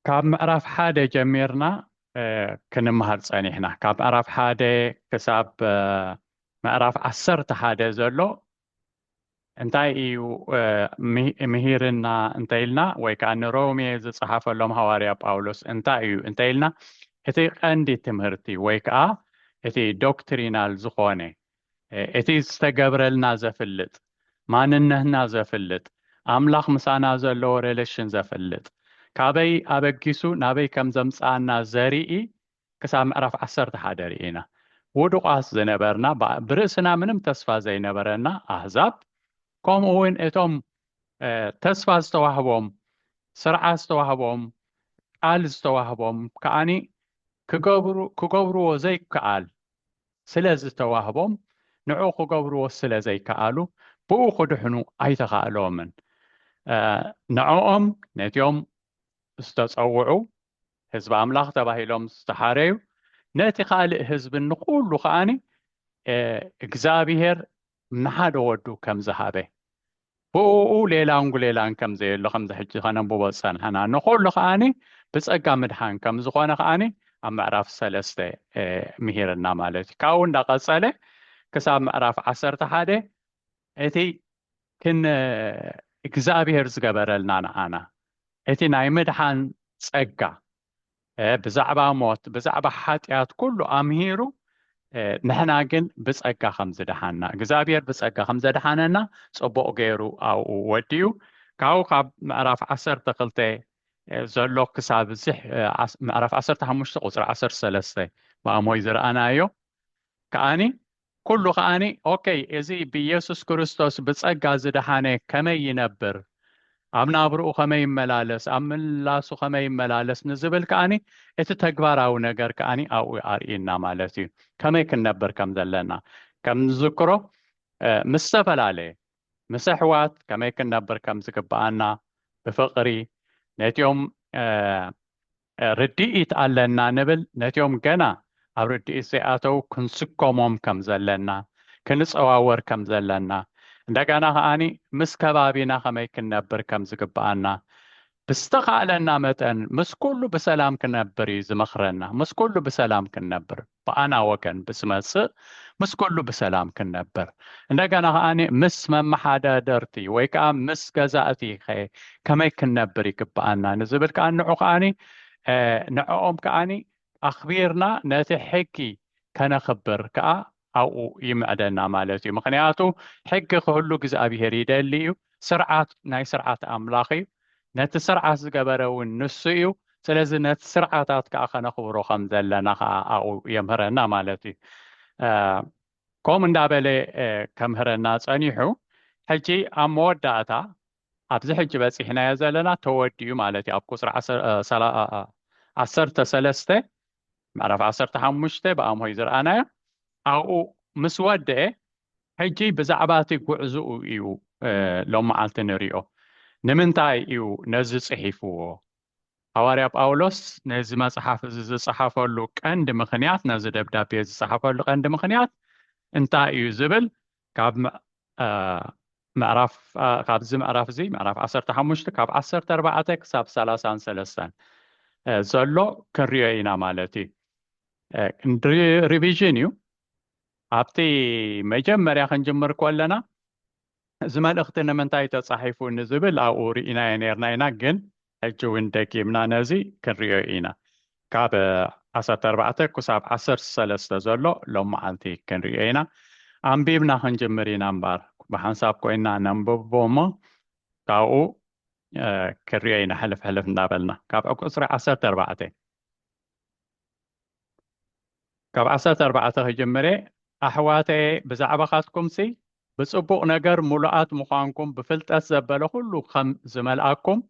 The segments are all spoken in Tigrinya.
ካብ ምዕራፍ ሓደ ጀሚርና ክንምሃር ፀኒሕና ካብ ምዕራፍ ሓደ ክሳብ ምዕራፍ ዓሰርተ ሓደ ዘሎ እንታይ እዩ ምሂርና እንተኢልና ወይ ከዓ ንሮሜ ዝፀሓፈሎም ሃዋርያ ጳውሎስ እንታይ እዩ እንተኢልና እቲ ቀንዲ ትምህርቲ ወይ ከዓ እቲ ዶክትሪናል ዝኾነ እቲ ዝተገብረልና ዘፍልጥ ማንነትና ዘፍልጥ ኣምላኽ ምሳና ዘለዎ ሬለሽን ዘፍልጥ ካበይ ኣበጊሱ ናበይ ከም ዘምጽኣና ዘርኢ ክሳብ ምዕራፍ ዓሰርተ ሓደ ርኢና ውዱቓት ዝነበርና ብርእስና ምንም ተስፋ ዘይነበረና ኣህዛብ ከምኡ እውን እቶም ተስፋ ዝተዋህቦም ስርዓት ዝተዋህቦም ቃል ዝተዋህቦም ከዓኒ ክገብርዎ ዘይከኣል ስለ ዝተዋህቦም ንዕኡ ክገብርዎ ስለ ዘይከኣሉ ብኡ ክድሕኑ ኣይተኻእሎምን። ንዕኦም ነቲኦም ዝተጸውዑ ህዝቢ ኣምላኽ ተባሂሎም ዝተሓረዩ ነቲ ካልእ ህዝቢ ንኹሉ ከኣ እግዚኣብሔር ንሓደ ወዱ ከም ዝሃበ ብእኡ ሌላን ጉሌላን ከም ዘየሎ ከምዚ ሕጂ ከነንብቦ ዝጸናሕና ንኹሉ ከኣኒ ብጸጋ ምድሓን ከም ዝኾነ ከኣኒ ኣብ ምዕራፍ ሰለስተ ምሂርና ማለት እዩ ካብኡ እንዳቐጸለ ክሳብ ምዕራፍ ዓሰርተ ሓደ እቲ ክን እግዚኣብሔር ዝገበረልና ንዓና እቲ ናይ ምድሓን ጸጋ ብዛዕባ ሞት ብዛዕባ ሓጢኣት ኩሉ ኣምሂሩ ንሕና ግን ብጸጋ ከም ዝደሓና እግዚኣብሔር ብጸጋ ከም ዘድሓነና ጽቡቕ ገይሩ ኣብኡ ወዲኡ ካብኡ ካብ ምዕራፍ ዓሰርተ ክልተ ዘሎ ክሳብ እዚ ምዕራፍ ዓሰርተ ሓሙሽተ ቁፅሪ ዓሰርተ ሰለስተ ማእሞይ ዝረኣናዮ ከዓኒ ኩሉ ከኣ ኦኬ እዚ ብየሱስ ክርስቶስ ብጸጋ ዝደሓነ ከመይ ይነብር ኣብ ናብርኡ ከመይ ይመላለስ ኣብ ምልላሱ ከመይ ይመላለስ ንዝብል ከኣ እቲ ተግባራዊ ነገር ከኣ ኣብኡ ኣርእዩና ማለት እዩ ከመይ ክንነብር ከም ዘለና ከም ንዝክሮ ምስ ዝተፈላለየ ምስ ኣሕዋት ከመይ ክንነብር ከም ዝግብኣና ብፍቕሪ ነቲኦም ርድኢት ኣለና ንብል ነቲኦም ገና ኣብ ርድኢት ዘይኣተው ክንስጎሞም ከም ዘለና፣ ክንጸዋወር ከም ዘለና፣ እንደገና ከኣ ምስ ከባቢና ከመይ ክንነብር ከም ዝግብኣና ብዝተኻእለና መጠን ምስ ኩሉ ብሰላም ክነብር እዩ ዝመኽረና ምስ ኩሉ ብሰላም ክንነብር። ብኣና ወገን ብዝመጽእ ምስ ኩሉ ብሰላም ክንነብር እንደገና ከኣ ምስ መመሓዳደርቲ ወይ ከኣ ምስ ገዛእቲ ከ ከመይ ክንነብር ይግብኣና ንዝብል ከኣ ንዑ ከኣ ንዕኦም ከኣ ኣኽቢርና ነቲ ሕጊ ከነኽብር ከኣ ኣብኡ ይምዕደና ማለት እዩ ምኽንያቱ ሕጊ ክህሉ እግዚኣብሄር ይደሊ እዩ ስርዓት ናይ ስርዓት ኣምላኽ እዩ ነቲ ስርዓት ዝገበረ እውን ንሱ እዩ ስለዚ ነቲ ስርዓታት ከኣ ከነኽብሮ ከም ዘለና ከኣ ኣብኡ የምህረና ማለት እዩ ከምኡ እንዳበለ ከምህረና ጸኒሑ ሕጂ ኣብ መወዳእታ ኣብዚ ሕጂ በጺሕናዮ ዘለና ተወዲኡ ማለት እዩ ኣብ ቁጽሪ ዓሰርተ ሰለስተ ምዕራፍ ዓሰርተ ሓሙሽተ ብኣምሆይ ዝረኣናዮ ኣብኡ ምስ ወደኤ ሕጂ ብዛዕባ እቲ ጕዕዞኡ እዩ ሎሚ መዓልቲ እንርእዮ። ንምንታይ እዩ ነዚ ጽሒፍዎ? ሃዋርያ ጳውሎስ ነዚ መጽሓፍ እዚ ዝጸሓፈሉ ቀንዲ ምኽንያት፣ ነዚ ደብዳቤ ዝጸሓፈሉ ቀንዲ ምኽንያት እንታይ እዩ ዝብል ካብ ምዕራፍ ካብዚ ምዕራፍ እዚ ምዕራፍ ዓሰርተ ሓሙሽተ ካብ ዓሰርተ ኣርባዕተ ክሳብ ሰላሳን ሰለስተን ዘሎ ክንሪኦ ኢና ማለት እዩ ሪቪዥን እዩ ኣብቲ መጀመርያ ክንጅምር ኮለና እዚ መልእኽቲ ንምንታይ ተጻሒፉ ንዝብል ኣብኡ ርኢናዮ ኔርና ኢና ግን ሕጂ ውን ደጊምና ነዚ ክንርእዮ ኢና ካብ ዓሰርተ ኣርባዕተ ክሳብ ዓሰርተ ሰለስተ ዘሎ ሎምዓልቲ ክንርእዮ ኢና ኣንቢብና ክንጅምር ኢና እምባር ብሓንሳብ ኮይና ነንብቦ እሞ ካብኡ ክንርእዮ ኢና ሕልፍ ሕልፍ እንዳበልና ካብ ቁጽሪ ዓሰርተ ኣርባዕተ ካብ ዓሰርተ ኣርባዕተ ከይጀመረ ኣሕዋተ ብዛዕባኻትኩምሲ ብጽቡቕ ነገር ምሉኣት ምዃንኩም ብፍልጠት ዘበለ ኩሉ ከም ዝመልኣኩም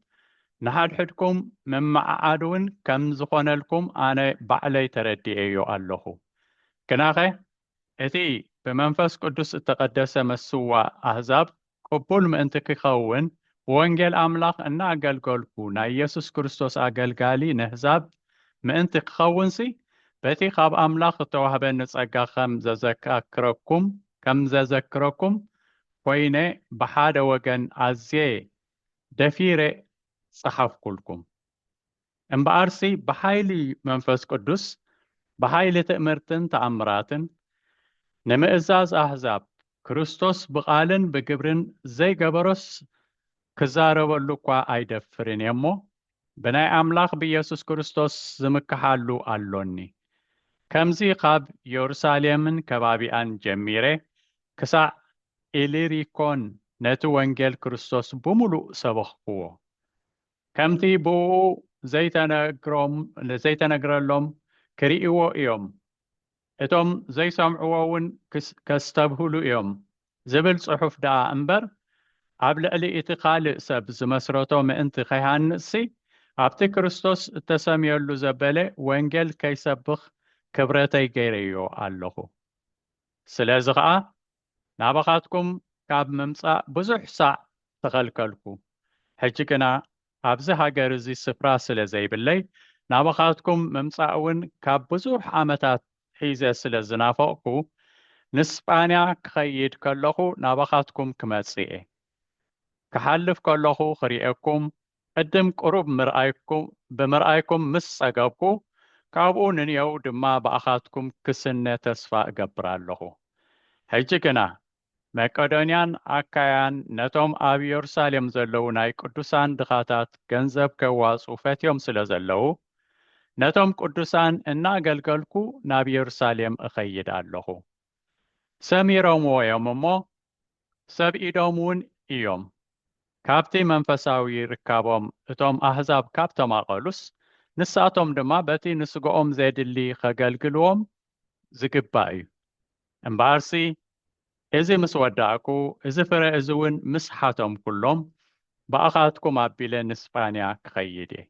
ንሓድሕድኩም ምምዓዓድ እውን ከም ዝኾነልኩም ኣነ ባዕለይ ተረዲኤዮ ኣለኹ። ግናኸ እቲ ብመንፈስ ቅዱስ እተቐደሰ መስዋእ ኣህዛብ ቅቡል ምእንቲ ኪኸውን፣ ብወንጌል ኣምላኽ እናኣገልገልኩ ናይ የሱስ ክርስቶስ ኣገልጋሊ ነህዛብ ምእንቲ ክኸውንሲ፣ በቲ ኻብ ኣምላኽ እተዋህበኒ ጸጋ ኸም ዘዘካክረኩም ከም ዘዘክረኩም ኰይነ ብሓደ ወገን ኣዝየ ደፊረ ጸሓፍኩልኩም። እምበኣርሲ ብሓይሊ መንፈስ ቅዱስ ብሓይሊ ትእምርትን ተኣምራትን ንምእዛዝ ኣህዛብ ክርስቶስ ብቓልን ብግብርን ዘይገበሮስ ክዛረበሉ እኳ ኣይደፍርን እየ እሞ ብናይ ኣምላኽ ብኢየሱስ ክርስቶስ ዝምክሓሉ ኣሎኒ ከምዚ ኻብ የሩሳሌምን ከባቢኣን ጀሚረ ክሳዕ ኢሊሪኮን ነቲ ወንጌል ክርስቶስ ብምሉእ ሰበኽክዎ። ከምቲ ብእኡ ዘይተነግረሎም ክርእይዎ እዮም፣ እቶም ዘይሰምዕዎውን ከስተብህሉ እዮም ዝብል ጽሑፍ ደኣ እምበር፣ ኣብ ልዕሊ እቲ ኻልእ ሰብ ዝመስረቶ ምእንቲ ኸይሃንጽሲ፣ ኣብቲ ክርስቶስ እተሰምየሉ ዘበለ ወንጌል ከይሰብኽ ክብረተይ ገይረዮ ኣለኹ። ስለዚ ኸኣ ናባኻትኩም ካብ ምምጻእ ብዙሕ ሳዕ ተኸልከልኩ። ሕጂ ግና ኣብዚ ሃገር እዚ ስፍራ ስለ ዘይብለይ፣ ናባኻትኩም ምምጻእውን ካብ ብዙሕ ዓመታት ሒዘ ስለ ዝናፈቕኩ፣ ንስጳንያ ክኸይድ ከለኹ ናባኻትኩም ክመጽእ'የ። ክሓልፍ ከለኹ ክርእየኩም ቅድም ቅሩብ ምርኣይኩም ብምርኣይኩም ምስ ጸገብኩ ካብኡ ንንየው ድማ ብኣኻትኩም ክስነ ተስፋ እገብር ኣለኹ። ሕጂ ግና መቄዶንያን ኣካያን ነቶም ኣብ የሩሳሌም ዘለዉ ናይ ቅዱሳን ድኻታት ገንዘብ ኬዋጽኡ ፈትዮም ስለ ዘለዉ፣ ነቶም ቅዱሳን እናኣገልገልኩ ናብ የሩሳሌም እኸይድ ኣለኹ። ሰሚሮምዎ እዮም እሞ፣ ሰብ ኢዶም ውን እዮም ካብቲ መንፈሳዊ ርካቦም እቶም ኣህዛብ ካብ ተማቐሉስ ንሳቶም ድማ በቲ ንስጋኦም ዜድሊ ኼገልግልዎም ዚግባእ እዩ። እምበኣርሲ እዚ ምስ ወዳእኩ እዚ ፍረ እዚ ውን ምስ ሓተምኩሎም ብኣኻትኩም ኣቢለ ንስጳንያ ክኸይድ እየ።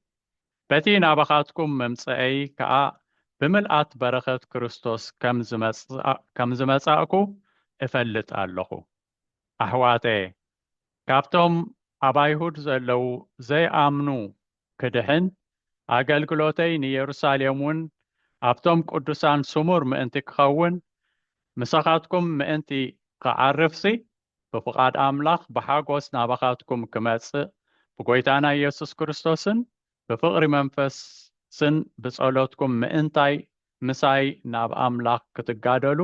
በቲ ናባኻትኩም ምምጸኤይ ከኣ ብምልኣት በረኸት ክርስቶስ ከም ዝመጻእኩ እፈልጥ ኣሎኹ። ኣሕዋተየ፣ ካብቶም ኣብ ኣይሁድ ዘለዉ ዘይኣምኑ ክድሕን፣ ኣገልግሎተይ ንየሩሳሌምውን ኣብቶም ቅዱሳን ስሙር ምእንቲ ክኸውን፣ ምሳኻትኩም ምእንቲ ኽዓርፍሲ፣ ብፍቓድ ኣምላኽ ብሓጎስ ናባኻትኩም ክመጽእ ብጐይታና ኢየሱስ ክርስቶስን ብፍቕሪ መንፈስን ብጸሎትኩም ምእንታይ ምሳይ ናብ ኣምላኽ ክትጋደሉ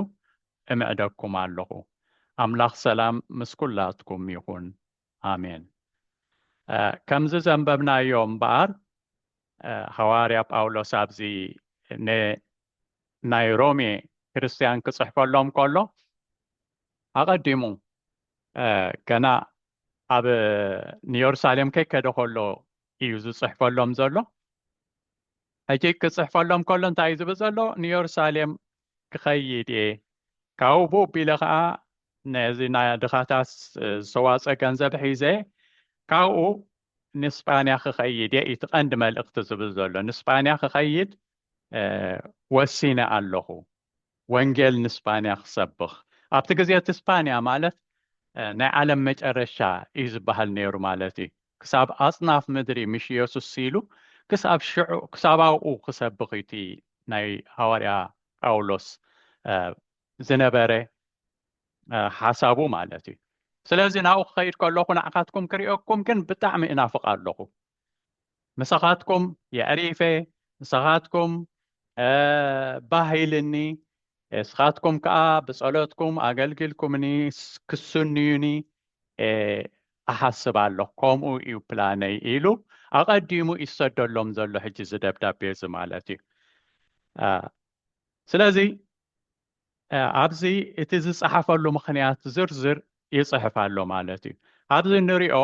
እምዕደኩም ኣለኹ። ኣምላኽ ሰላም ምስ ኵላትኩም ይኹን። ኣሜን። ከምዚ ዘንበብናዮ እምበኣር ሃዋርያ ጳውሎስ ኣብዚ ንናይ ሮሜ ክርስትያን ክጽሕፈሎም ከሎ ኣቐዲሙ ገና ኣብ ንየሩሳሌም ከይከደ ከሎ እዩ ዝፅሕፈሎም ዘሎ ሕጂ ክፅሕፈሎም ከሎ እንታይ እዩ ዝብል ዘሎ ንየሩሳሌም ክኸይድ እየ ካብኡ ቡቢለ ከዓ ነዚ ናይ ድኻታት ዝተዋፀ ገንዘብ ሒዘ ካብኡ ንስጳንያ ክኸይድ እየ እቲ ቀንዲ መልእኽቲ ዝብል ዘሎ ንስጳንያ ክኸይድ ወሲነ ኣለኹ ወንጌል ንስጳንያ ክሰብኽ። ኣብቲ ግዜ እቲ ስጳንያ ማለት ናይ ዓለም መጨረሻ እዩ ዝበሃል ነይሩ ማለት እዩ። ክሳብ ኣጽናፍ ምድሪ ምሽ የሱስ ስኢሉ ክሳብ ሽዑ ክሳብ ኣብኡ ክሰብኽ እዩ እቲ ናይ ሃዋርያ ጳውሎስ ዝነበረ ሓሳቡ ማለት እዩ። ስለዚ ናብኡ ክኸይድ ከለኹ ንዓኻትኩም ክርእየኩም ግን ብጣዕሚ እናፍቕ ኣለኹ። ምሳኻትኩም የዕሪፈ ምሳኻትኩም ባህ ኢልኒ እስኻትኩም ከዓ ብጸሎትኩም ኣገልግልኩምኒ ክስንዩኒ እሓስብ ኣሎ ከምኡ እዩ ፕላነይ ኢሉ ኣቐዲሙ ይሰደሎም ዘሎ ሕጂ ዝደብዳቤ እዚ ማለት እዩ ስለዚ ኣብዚ እቲ ዝጸሓፈሉ ምክንያት ዝርዝር ይጽሕፍ ኣሎ ማለት እዩ ኣብዚ ንሪኦ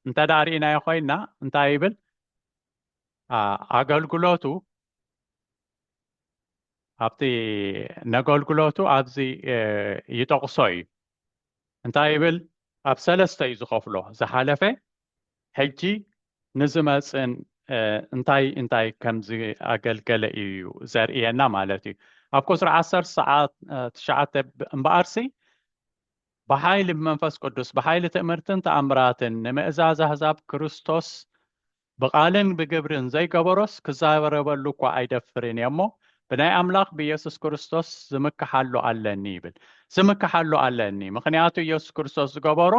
እንተ ርእናዮ ኮይና እንታይ ይብል ኣገልግሎቱ ኣብቲ ነገልግሎቱ ኣብዚ ይጠቕሶ እዩ እንታይ ይብል ኣብ ሰለስተ እዩ ዝኸፍሎ ዝሓለፈ ሕጂ ንዝመጽእን እንታይ እንታይ ከም ዝኣገልገለ እዩ ዘርእየና ማለት እዩ ኣብ ቁፅሪ ዓሰርተ ሰዓት ትሽዓተ እምበኣርሲ ብሓይሊ ብመንፈስ ቅዱስ ብሓይሊ ትእምርትን ተኣምራትን ንምእዛዝ ኣህዛብ ክርስቶስ ብቓልን ብግብርን ዘይገበሮስ ክዛረበሉ እኳ ኣይደፍርን እየ እሞ ብናይ ኣምላኽ ብኢየሱስ ክርስቶስ ዝምክሓሉ ኣለኒ ይብል ዝምክሓሉ ኣለኒ ምክንያቱ ኢየሱስ ክርስቶስ ዝገበሮ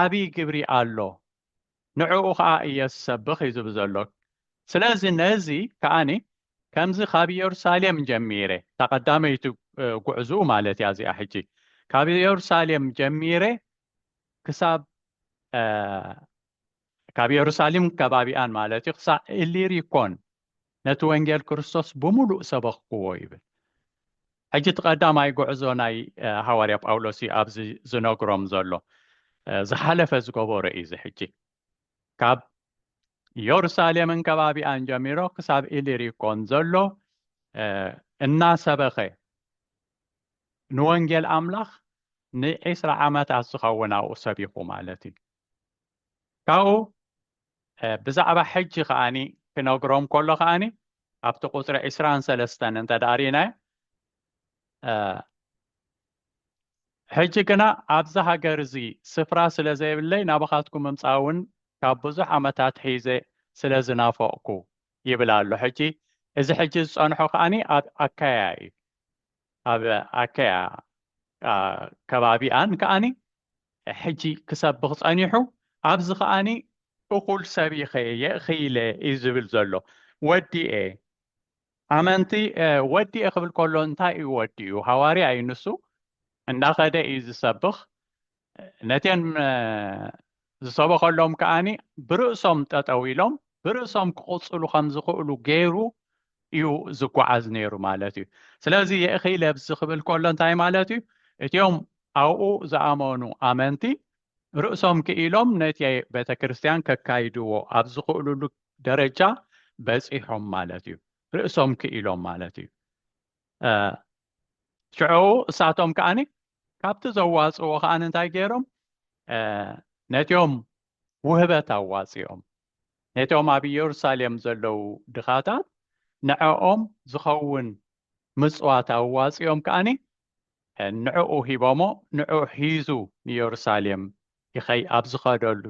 ዓብይ ግብሪ ኣሎ ንዕኡ ከኣ እየ ዝሰብኽ እዩ ዝብል ዘሎ ስለዚ ነዚ ከኣኒ ከምዚ ካብ ኢየሩሳሌም ጀሚረ እታ ቀዳመይቲ ጉዕዝኡ ማለት እያ እዚኣ ሕጂ ካብ ኢየሩሳሌም ጀሚረ ክሳብ ካብ የሩሳሌምን ከባቢኣን ማለት እዩ ኽሳዕ እሊሪኮን ነቲ ወንጌል ክርስቶስ ብምሉእ ሰበኽክዎ ይብል። ሕጂ እቲ ቀዳማይ ጉዕዞ ናይ ሃዋርያ ጳውሎስ እዩ ኣብዚ ዝነግሮም ዘሎ። ዝሓለፈ ዝገበሮ እዩ እዚ ሕጂ። ካብ የሩሳሌምን ከባቢኣን ጀሚሮ ክሳብ ኢሊሪኮን ዘሎ እናሰበኸ ንወንጌል ኣምላኽ ንዒስራ ዓመታት ዝኸውን ኣብኡ ሰቢኹ ማለት እዩ። ካብኡ ብዛዕባ ሕጂ ከኣኒ ክነግሮም ከሎ ከኣኒ ኣብቲ ቁፅሪ ዕስራን ሰለስተን እንተ ደኣ ርኢናዮ ሕጂ ግና ኣብዚ ሃገር እዚ ስፍራ ስለ ዘይብለይ ናባኻትኩም ምምፃእ እውን ካብ ብዙሕ ዓመታት ሒዘ ስለ ዝናፈቕኩ ይብል ኣሎ ሕጂ እዚ ሕጂ ዝፀንሖ ከዓኒ ኣብ ኣካያ እዩ ኣብ ኣከያ ከባቢኣን ከኣኒ ሕጂ ክሰብኽ ጸኒሑ ኣብዚ ከኣኒ እኹል ሰቢኸ የእኽይለ እዩ ዝብል ዘሎ ወዲኤ ኣመንቲ ወዲኤ ክብል ከሎ እንታይ እዩ ወዲኡ ሃዋርያ እዩ ንሱ እንዳኸደ እዩ ዝሰብኽ ነቴን ዝሰበኸሎም ከኣኒ ብርእሶም ጠጠው ኢሎም ብርእሶም ክቕፅሉ ከም ዝኽእሉ ገይሩ እዩ ዝጓዓዝ ነይሩ ማለት እዩ ስለዚ የእኺ ለብዚ ክብል ከሎ እንታይ ማለት እዩ እትዮም ኣብኡ ዝኣመኑ ኣመንቲ ርእሶም ክኢሎም ነቲ ቤተ ክርስቲያን ከካይድዎ ኣብ ዝኽእሉሉ ደረጃ በፂሖም ማለት እዩ ርእሶም ክኢሎም ማለት እዩ ሽዑ እሳቶም ከዓኒ ካብቲ ዘዋፅዎ ከዓ እንታይ ገይሮም ነቲኦም ውህበት ኣዋፂኦም ነቶም ኣብ ኢየሩሳሌም ዘለዉ ድኻታት ንዕኦም ዝኸውን ምፅዋት ኣዋፂኦም ከዓኒ ንዕኡ ሂቦሞ ንዕኡ ሒዙ ንኢየሩሳሌም ይኸይ ኣብ ዝኸደሉ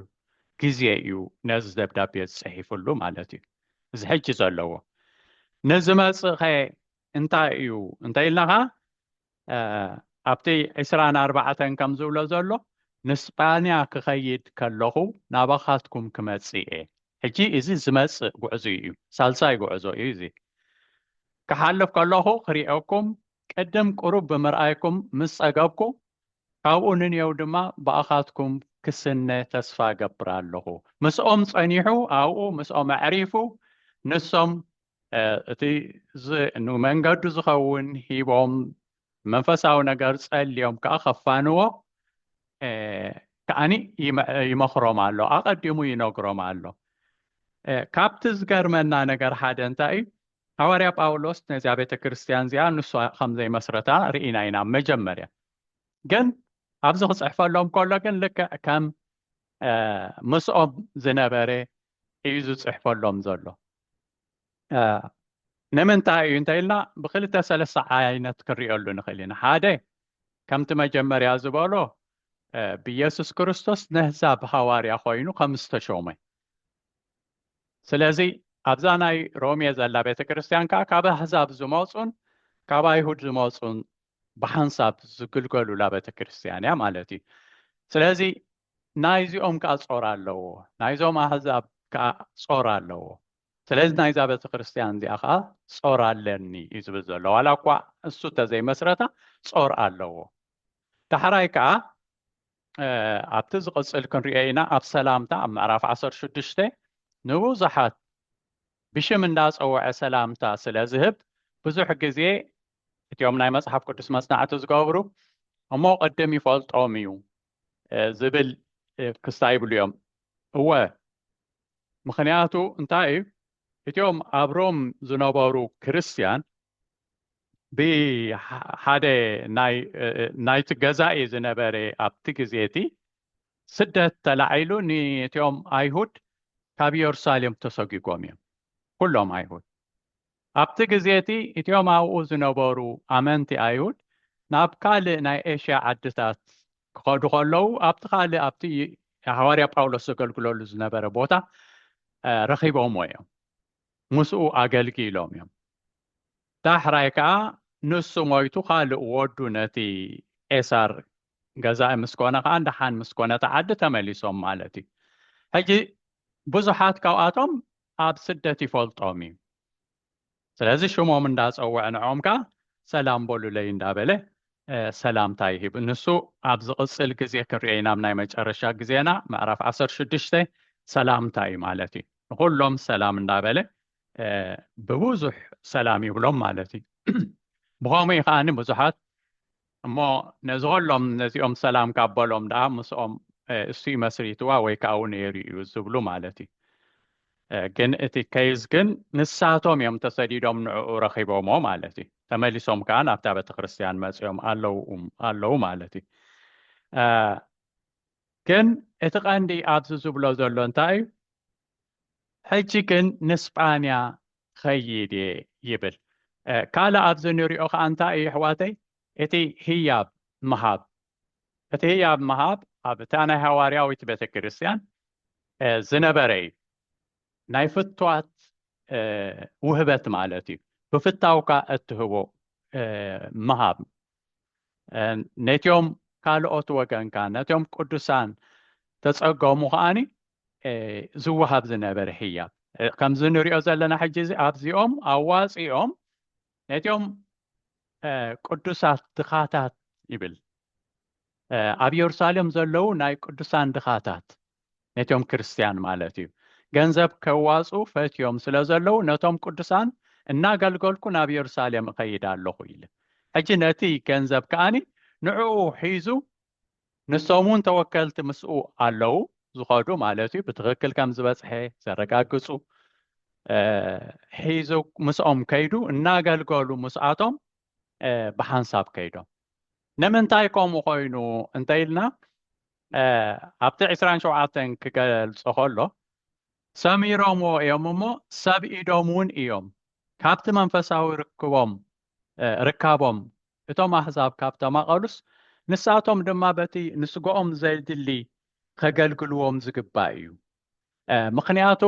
ግዜ እዩ ነዚ ደብዳቤ ዝፅሒፍሉ ማለት እዩ እዚ ሕጂ ዘለዎ ንዝመፅእ ኸ እንታይ እዩ እንተኢልና ኸዓ ኣብቲ ዕስራን ኣርባዕተን ከም ዝብሎ ዘሎ ንስጳንያ ክኸይድ ከለኹ ናባኻትኩም ክመጽእ እየ። ሕጂ እዚ ዝመጽእ ጉዕዙይ እዩ፣ ሳልሳይ ጉዕዞ እዩ እዚ። ክሓልፍ ከለኹ ክርእየኩም፣ ቅድም ቁሩብ ብምርኣይኩም ምስ ጸገብኩ፣ ካብኡ ንንየው ድማ ብኣኻትኩም ክስነ ተስፋ እገብር ኣለኹ። ምስኦም ጸኒሑ ኣብኡ ምስኦም ኣዕሪፉ ንሶም እቲ ንመንገዱ ዝኸውን ሂቦም መንፈሳዊ ነገር ጸልዮም ከዓ ከፋንዎ ከዓኒ ይመኽሮም ኣሎ ኣቐዲሙ ይነግሮም ኣሎ ካብቲ ዝገርመና ነገር ሓደ እንታይ እዩ ሃዋርያ ጳውሎስ ነዚያ ቤተ ክርስቲያን እዚኣ ንሱ ከም ዘይመስረታ ርኢና ኢና መጀመርያ ግን ኣብዚ ክፅሕፈሎም ከሎ ግን ልክዕ ከም ምስኦም ዝነበረ እዩ ዝፅሕፈሎም ዘሎ ንምንታይ እዩ እንተኢልና ብክልተ ሰለስተ ዓይነት ክንሪኦሉ ንኽእል ኢና ሓደ ከምቲ መጀመርያ ዝበሎ ብኢየሱስ ክርስቶስ ነህዛብ ሃዋርያ ኮይኑ ከም ዝተሾመ ስለዚ ኣብዛ ናይ ሮሜ ዘላ ቤተ ክርስቲያን ከዓ ካብ ኣህዛብ ዝመፁን ካብ ኣይሁድ ዝመፁን ብሓንሳብ ዝግልገሉላ ቤተ ክርስቲያን እያ ማለት እዩ ስለዚ ናይዚኦም ከኣ ጾር ኣለዎ፣ ናይዞም ኣህዛብ ከኣ ጾር ኣለዎ፣ ስለዚ ናይዛ ቤተክርስትያን እዚኣ ከኣ ጾር ኣለኒ እዩ ዝብል ዘሎ፣ ዋላ እኳ እሱ እንተዘይመስረታ ጾር ኣለዎ። ዳሕራይ ከኣ ኣብቲ ዝቕጽል ክንሪኦ ኢና፣ ኣብ ሰላምታ ኣብ ምዕራፍ ዓሰርተ ሽዱሽተ ንብዙሓት ብሽም እንዳጸወዐ ሰላምታ ስለ ዝህብ ብዙሕ ግዜ እቲኦም ናይ መጽሓፍ ቅዱስ መጽናዕቲ ዝገብሩ እሞ ቅድም ይፈልጦም እዩ ዝብል ክስታ ይብሉ እዮም። እወ፣ ምኽንያቱ እንታይ እዩ? እቲኦም ኣብ ሮም ዝነበሩ ክርስትያን ብሓደ ናይቲ ገዛኢ ዝነበረ ኣብቲ ግዜ እቲ ስደት ተላዒሉ ንእቲኦም ኣይሁድ ካብ የሩሳሌም ተሰጒጎም እዮም፣ ኩሎም ኣይሁድ። ኣብቲ ግዜ እቲ እቲኦም ኣብኡ ዝነበሩ ኣመንቲ ኣይሁድ ናብ ካልእ ናይ ኤሽያ ዓድታት ክኸዱ ከለዉ ኣብቲ ካልእ ኣብቲ ሃዋርያ ጳውሎስ ዘገልግለሉ ዝነበረ ቦታ ረኺቦምዎ እዮም ምስኡ ኣገልጊሎም እዮም ዳሕራይ ከኣ ንሱ ሞይቱ ካልእ ወዱ ነቲ ቄሳር ገዛኢ ምስ ኮነ ከኣ ደሓን ምስ ኮነት ዓዲ ተመሊሶም ማለት እዩ። ሕጂ ብዙሓት ካብኣቶም ኣብ ስደት ይፈልጦም እዩ። ስለዚ ሽሞም እንዳጸወዐ ንዕኦም ከኣ ሰላም በሉለይ እንዳበለ ሰላምታ ይህብ። ንሱ ኣብ ዝቕጽል ግዜ ክንርእዮ ኢና፣ ኣብ ናይ መጨረሻ ግዜና ምዕራፍ ዓሰርተ ሽዱሽተ ሰላምታ እዩ ማለት እዩ። ንኹሎም ሰላም እንዳበለ ብብዙሕ ሰላም ይብሎም ማለት እዩ። ብኸምኡ እዩ ከኣ ብዙሓት እሞ ነዝኸሎም ነዚኦም ሰላም ካብ በሎም ደኣ ምስኦም እሱይ መስሪትዋ ወይ ከኣኡ ነይሩ እዩ ዝብሉ ማለት እዩ ግን እቲ ከይዝ ግን ንሳቶም እዮም ተሰዲዶም ንዕኡ ረኺቦሞ ማለት እዩ ተመሊሶም ከኣ ናብታ ቤተክርስትያን መፅኦም ኣለው ኣለው ማለት እዩ ግን እቲ ቀንዲ ኣብዚ ዝብሎ ዘሎ እንታይ እዩ ሕጂ ግን ንስጳንያ ክኸይድ እየ ይብል። ካልእ ኣብዚ ንሪኦ ከኣ እንታይ እዩ ኣሕዋተይ እቲ ህያብ ምሃብ እቲ ህያብ ምሃብ ኣብ እታ ናይ ሃዋርያዊት ቤተ ክርስቲያን ዝነበረ እዩ ናይ ፍቷት ውህበት ማለት እዩ ብፍታውካ እትህቦ ምሃብ ነቲኦም ካልኦት ወገንካ ነቲኦም ቅዱሳን ተጸገሙ ከዓኒ ዝወሃብ ዝነበረ ህያብ ከምዚ ንሪኦ ዘለና ሕጂ እዚ ኣብዚኦም ኣዋፂኦም ነቲኦም ቅዱሳት ድኻታት ይብል ኣብ የሩሳሌም ዘለዉ ናይ ቅዱሳን ድኻታት ነቶም ክርስትያን ማለት እዩ ገንዘብ ከዋፁ ፈትዮም ስለ ዘለዉ ነቶም ቅዱሳን እናገልገልኩ ናብ የሩሳሌም እኸይድ ኣለኹ ኢለ ሕጂ ነቲ ገንዘብ ከዓኒ ንዕኡ ሒዙ ንሶም እውን ተወከልቲ ምስኡ ኣለዉ ዝኸዱ ማለት እዩ ብትኽክል ከም ዝበፅሐ ዘረጋግፁ ሒዙ ምስኦም ከይዱ እናገልገሉ ምስኣቶም ብሓንሳብ ከይዶም ንምንታይ ከምኡ ኮይኑ እንተኢልና ኣብቲ ዕስራን ሸውዓተን ክገልጾ ከሎ ሰሚሮምዎ እዮም እሞ ሰብ ኢዶም እውን እዮም ካብቲ መንፈሳዊ ርክቦም ርካቦም እቶም ኣህዛብ ካብ ተማቐሉስ ንሳቶም ድማ በቲ ንስግኦም ዘይድሊ ከገልግልዎም ዝግባእ እዩ ምክንያቱ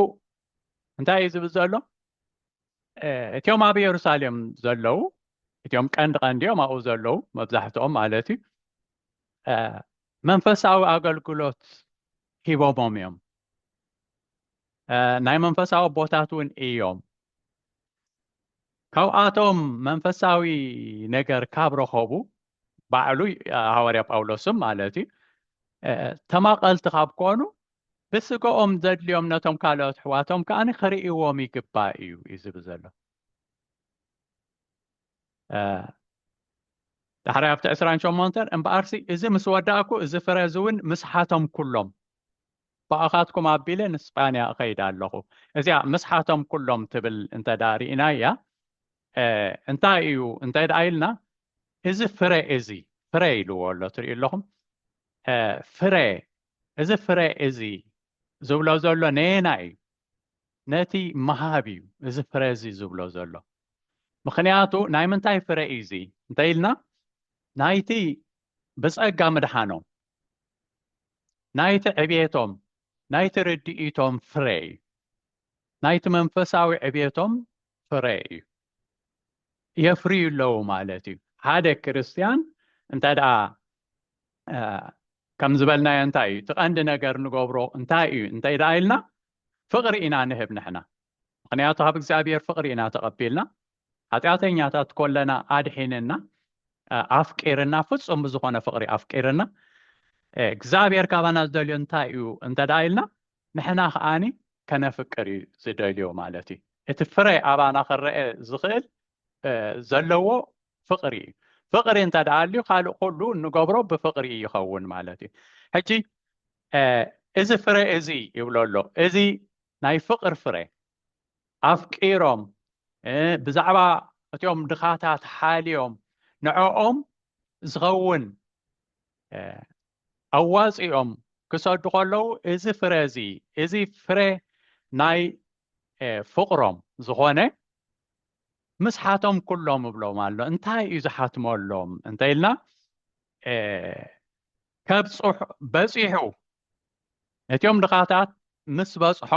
እንታይ እዩ ዝብል ዘሎ እቲኦም ኣብ የሩሳሌም ዘለዉ እቲኦም ቀንዲ ቀንዲ እዮም ኣብኡ ዘለዉ መብዛሕትኦም ማለት እዩ መንፈሳዊ ኣገልግሎት ሂቦሞም እዮም ናይ መንፈሳዊ ቦታት እውን እዮም ካብኣቶም መንፈሳዊ ነገር ካብ ረኸቡ ባዕሉ ሃዋርያ ጳውሎስም ማለት እዩ ተማቐልቲ ካብ ኮኑ ብስገኦም ዘድልዮም ነቶም ካልኦት ኣሕዋቶም ከኣ ክርእይዎም ይግባእ እዩ እዩ ዝብል ዘሎ ዳሕራይ ኣብቲ ዕስራን ሸሞንተን እምበኣርሲ እዚ ምስ ወዳእኩ እዚ ፍረ እዚ እውን ምስሓቶም ኩሎም ብኣኻትኩም ኣቢለ ንስጳንያ እኸይድ ኣለኹ እዚኣ ምስሓቶም ኩሎም ትብል እንተ ደኣ ርኢና እያ እንታይ እዩ እንተ ደኣ ኢልና እዚ ፍረ እዚ ፍረ ኢልዎ ኣሎ ትርእዩ ኣለኹም ፍረ እዚ ፍረ እዚ ዝብሎ ዘሎ ነየናይ እዩ? ነቲ ምሃብ እዩ እዚ ፍረ እዚ ዝብሎ ዘሎ። ምኽንያቱ ናይ ምንታይ ፍረ እዩ እዚ እንተ ኢልና ናይቲ ብጸጋ ምድሓኖም፣ ናይቲ ዕብየቶም፣ ናይቲ ርድኢቶም ፍረ እዩ። ናይቲ መንፈሳዊ ዕብየቶም ፍረ እዩ የፍርዩ ኣለዉ ማለት እዩ ሓደ ክርስትያን እንተ ደኣ ከም ዝበልናዮ እንታይ እዩ እቲ ቀንዲ ነገር ንገብሮ እንታይ እዩ እንተ ደኣ ኢልና ፍቕሪ ኢና ንህብ ንሕና ምክንያቱ ካብ እግዚኣብሔር ፍቕሪ ኢና ተቐቢልና ሓጢኣተኛታት ኮለና ኣድሒንና ኣፍቂርና ፍጹም ብዝኾነ ፍቕሪ ኣፍቂርና እግዚኣብሔር ካባና ዝደልዮ እንታይ እዩ እንተ ደኣ ኢልና ንሕና ከኣ ከነፍቅር እዩ ዝደልዮ ማለት እዩ። እቲ ፍረ ኣባና ክረኤ ዝኽእል ዘለዎ ፍቕሪ እዩ። ፍቕሪ እንተ ደኣ ኣልዩ ካልእ ኩሉ እንገብሮ ብፍቕሪ እዩ ይኸውን ማለት እዩ። ሕጂ እዚ ፍረ እዚ ይብሎ ኣሎ እዚ ናይ ፍቕር ፍረ ኣፍቂሮም ብዛዕባ እትኦም ድኻታት ሓልዮም ንዕኦም ዝኸውን ኣዋጺኦም ክሰዱ ከለዉ እዚ ፍረ እዚ እዚ ፍረ ናይ ፍቕሮም ዝኾነ ምስሓቶም ኩሎም እብሎም ኣሎ እንታይ እዩ ዝሓትመሎም እንተኢልና ከብፅሑ በፂሑ ነትዮም ድኻታት ምስ በጽሖ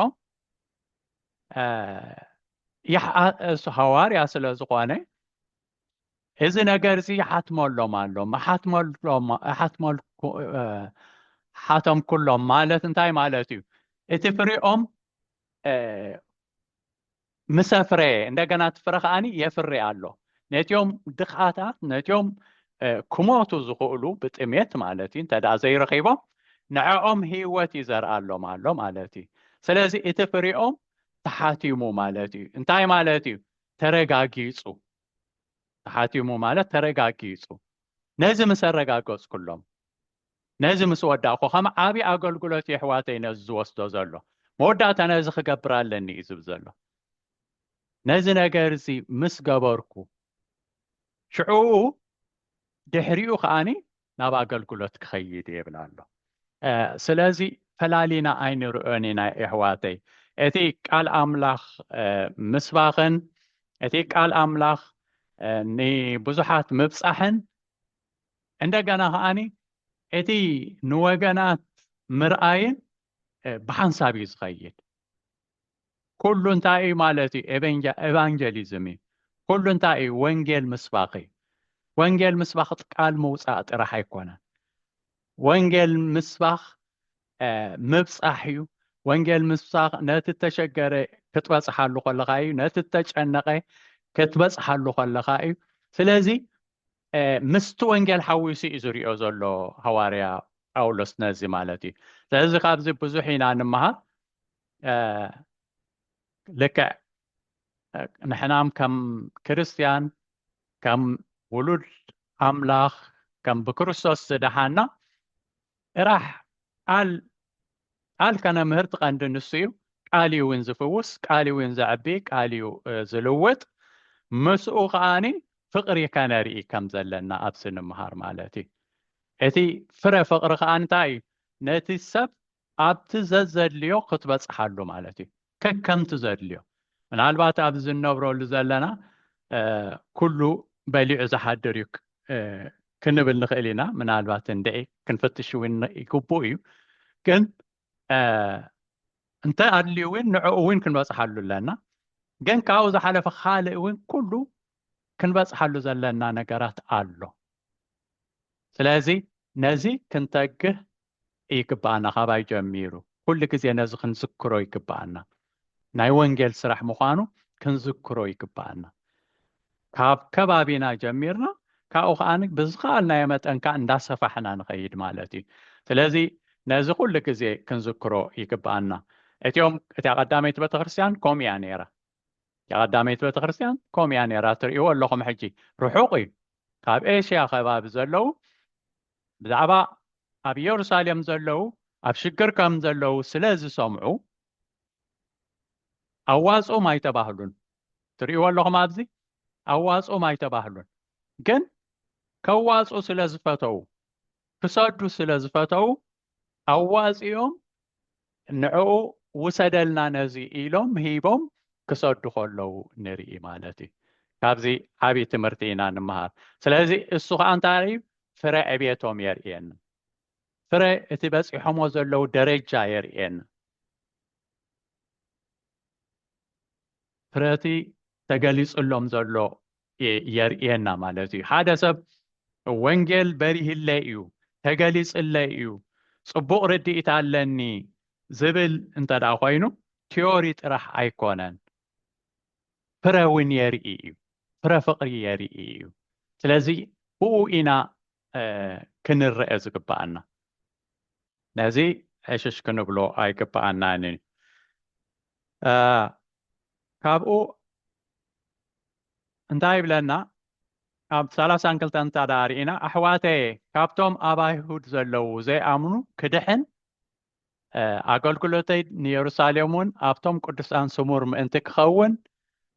ሃዋርያ ስለ ዝኾነ እዚ ነገር እዚ ይሓትመሎም ኣሎ ሓቶም ኩሎም ማለት እንታይ ማለት እዩ እቲ ፍሪኦም ምሰፍረ እንደገና እቲ ፍረ ከዓኒ የፍሪ ኣሎ ነትኦም ድኻታት ነትኦም ክሞቱ ዝኽእሉ ብጥሜት ማለት እዩ እንተደኣ ዘይረኺቦም ንዕኦም ህይወት እዩ ዘርኣሎም ኣሎ ማለት እዩ ስለዚ እቲ ፍሪኦም ተሓቲሙ ማለት እዩ እንታይ ማለት እዩ ተረጋጊጹ ተሓቲሙ ማለት ተረጋጊጹ ነዚ ምስ ኣረጋገጽኩሎም ነዚ ምስ ወዳእኩ ከም ዓብዪ ኣገልግሎት የሕዋተይ ነዚ ዝወስዶ ዘሎ መወዳእታ ነዚ ክገብር ኣለኒ እዩ ዝብል ዘሎ ነዚ ነገር እዚ ምስ ገበርኩ ሽዑኡ ድሕሪኡ ከዓኒ ናብ ኣገልግሎት ክኸይድ እየ ይብል ኣሎ ስለዚ ፈላሊና ኣይንርእዮን ኢና የሕዋተይ እቲ ቃል ኣምላኽ ምስባኽን እቲ ቃል ኣምላኽ ንብዙሓት ምብጻሕን እንደገና ከዓኒ እቲ ንወገናት ምርኣይን ብሓንሳብ እዩ ዝኸይድ ኩሉ እንታይ እዩ ማለት እዩ ኤቫንጀሊዝም እዩ ኩሉ እንታይ እዩ ወንጌል ምስባኽ እዩ ወንጌል ምስባኽ ቃል ምውፃእ ጥራሕ ኣይኮነን ወንጌል ምስባኽ ምብፃሕ እዩ ወንጌል ምስባኽ ነቲ ተሸገረ ክትበፅሓሉ ከለካ እዩ ነቲ ተጨነቀ ክትበፅሓሉ ከለካ እዩ ስለዚ ምስቲ ወንጌል ሓዊሱ እዩ ዝሪኦ ዘሎ ሃዋርያ ጳውሎስ ነዚ ማለት እዩ ስለዚ ካብዚ ብዙሕ ኢና ንምሃር ልክዕ ንሕናም ከም ክርስትያን ከም ውሉድ ኣምላኽ ከም ብክርስቶስ ዝደሓና ጥራሕ ቃል ቃል ከነ ምህርቲ ቀንዲ ንሱ እዩ ቃል እዩ እውን ዝፍውስ ቃል እዩ እውን ዘዕቢ ቃል እዩ ዝልውጥ ምስኡ ከዓኒ ፍቅሪ ከነርኢ ከም ዘለና ኣብዚ ንምሃር ማለት እዩ እቲ ፍረ ፍቅሪ ከዓኒ እንታይ እዩ ነቲ ሰብ ኣብቲ ዘዘድልዮ ክትበፅሓሉ ማለት እዩ ከከምቲ ዘድልዮ ምናልባት ኣብዚ እንነብረሉ ዘለና ኩሉ በሊዑ ዝሓድር እዩ ክንብል ንኽእል ኢና ምናልባት እንድዒ ክንፍትሽ እውን ይግብኡ እዩ ግን እንተ ኣድልዩ እውን ንዕኡ እውን ክንበፅሓሉ ኣለና ግን ካብኡ ዝሓለፈ ካልእ እውን ኩሉ ክንበፅሓሉ ዘለና ነገራት ኣሎ ስለዚ ነዚ ክንተግህ ይግብኣና ካባይ ጀሚሩ ኩሉ ግዜ ነዚ ክንዝክሮ ይግብኣና ናይ ወንጌል ስራሕ ምዃኑ ክንዝክሮ ይግብኣና ካብ ከባቢና ጀሚርና ካብኡ ከዓ ብዝኸኣልናዮ መጠን ከዓ እንዳሰፋሕና ንኸይድ ማለት እዩ ስለዚ ነዚ ኩሉ ግዜ ክንዝክሮ ይግብኣና እቲኦም እቲያ ቀዳመይቲ ቤተክርስትያን ከምኡ እያ ነይራ እቲያ ቀዳመይቲ ቤተክርስትያን ከምኡ እያ ነይራ ትርእይዎ ኣለኹም ሕጂ ርሑቕ እዩ ካብ ኤሽያ ከባቢ ዘለዉ ብዛዕባ ኣብ የሩሳሌም ዘለዉ ኣብ ሽግር ከም ዘለዉ ስለ ዝሰምዑ ኣዋጽኡም ኣይተባህሉን። ትርእይዎ ኣለኹም ኣብዚ ኣዋጽኡም ኣይተባህሉን። ግን ከዋጽኡ ስለ ዝፈተዉ ክሰዱ ስለ ዝፈተዉ ኣዋጺኦም ንዕኡ ውሰደልና ነዚ ኢሎም ሂቦም ክሰዱ ከለዉ ንርኢ ማለት እዩ ካብዚ ዓብዪ ትምህርቲ ኢና ንመሃር ስለዚ እሱ ከዓ እንታይ እዩ ፍረ ዕቤቶም የርእየና ፍረ እቲ በፂሖሞ ዘለዉ ደረጃ የርእየና ፍረቲ ተገሊፅሎም ዘሎ የርእየና ማለት እዩ። ሓደ ሰብ ወንጌል በሪህለይ እዩ፣ ተገሊጽለይ እዩ፣ ጽቡቕ ርድኢት ኣለኒ ዝብል እንተ ደኣ ኮይኑ ቲዮሪ ጥራሕ ኣይኮነን፣ ፍረ እውን የርኢ እዩ፣ ፍረ ፍቕሪ የርኢ እዩ። ስለዚ ብኡ ኢና ክንረአ ዝግባኣና፣ ነዚ ዕሽሽ ክንብሎ ኣይግባኣናን እዩ። ካብኡ እንታይ ይብለና ኣብ ሰላሳን ክልተን እንታ ደኣ ርኢና ኣሕዋተየ ካብቶም ኣብ ኣይሁድ ዘለዉ ዘይኣምኑ ክድሕን ኣገልግሎተይ ንየሩሳሌም እውን ኣብቶም ቅዱሳን ስሙር ምእንቲ ክኸውን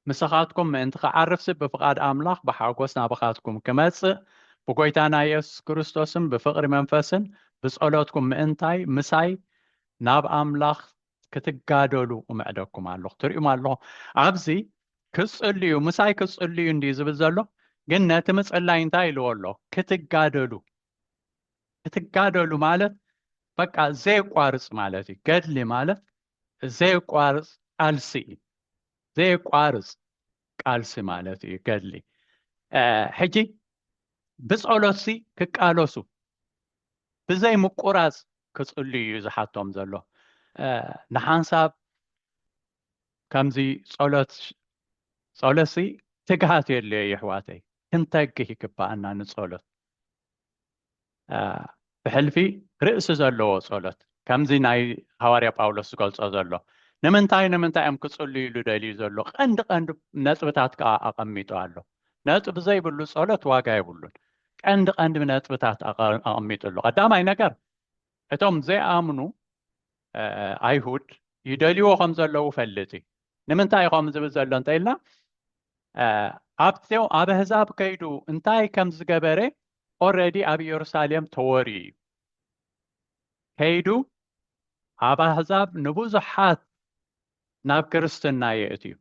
ምስኻትኩም ምእንቲ ክዓርፍሲ ብፍቓድ ኣምላኽ ብሓጎስ ናባኻትኩም ክመጽእ ብጎይታና የሱስ ክርስቶስን ብፍቕሪ መንፈስን ብጸሎትኩም ምእንታይ ምሳይ ናብ ኣምላኽ ክትጋደሉ እምዕደኩም ኣለኹ ትሪኡም ኣለኹ ኣብዚ ክፅልዩ ምሳይ ክፅልዩ እንድዩ ዝብል ዘሎ ግን ነቲ ምፅላይ እንታይ ኢልዎ ኣሎ ክትጋደሉ ክትጋደሉ ማለት በቃ ዘየቋርፅ ማለት እዩ ገድሊ ማለት ዘየቋርፅ ቃልሲ እዩ ዘየቋርፅ ቃልሲ ማለት እዩ ገድሊ ሕጂ ብጸሎትሲ ክቃለሱ ብዘይ ምቁራጽ ክጽልዩ እዩ ዝሓቶም ዘሎ ንሓንሳብ ከምዚ ጸሎት ጸሎሲ ትግሃት የድልዮ ይሕዋተይ ክንተግህ ይግባኣና ንጸሎት ብሕልፊ ርእሲ ዘለዎ ጸሎት ከምዚ ናይ ሃዋርያ ጳውሎስ ዝገልጾ ዘሎ ንምንታይ ንምንታይ እዮም ክጽልዩ ኢሉ ደልዩ ዘሎ ቀንዲ ቀንዲ ነጥብታት ከዓ ኣቐሚጡ ኣሎ ነጥቢ ዘይብሉ ጸሎት ዋጋ የብሉን ቀንዲ ቀንዲ ነጥብታት ኣቐሚጡ ኣሎ ቀዳማይ ነገር እቶም ዘይኣምኑ ኣይሁድ ይደልዎ ከም ዘለዉ ፈልጥ እዩ ንምንታይ ኢኸም ዝብል ዘሎ እንተ ኢልና ኣብቲ ኣብ ኣህዛብ ከይዱ እንታይ ከም ዝገበረ ኦረዲ ኣብ ኢየሩሳሌም ተወርዩ እዩ ከይዱ ኣብ ኣህዛብ ንብዙሓት ናብ ክርስትና የእትዩ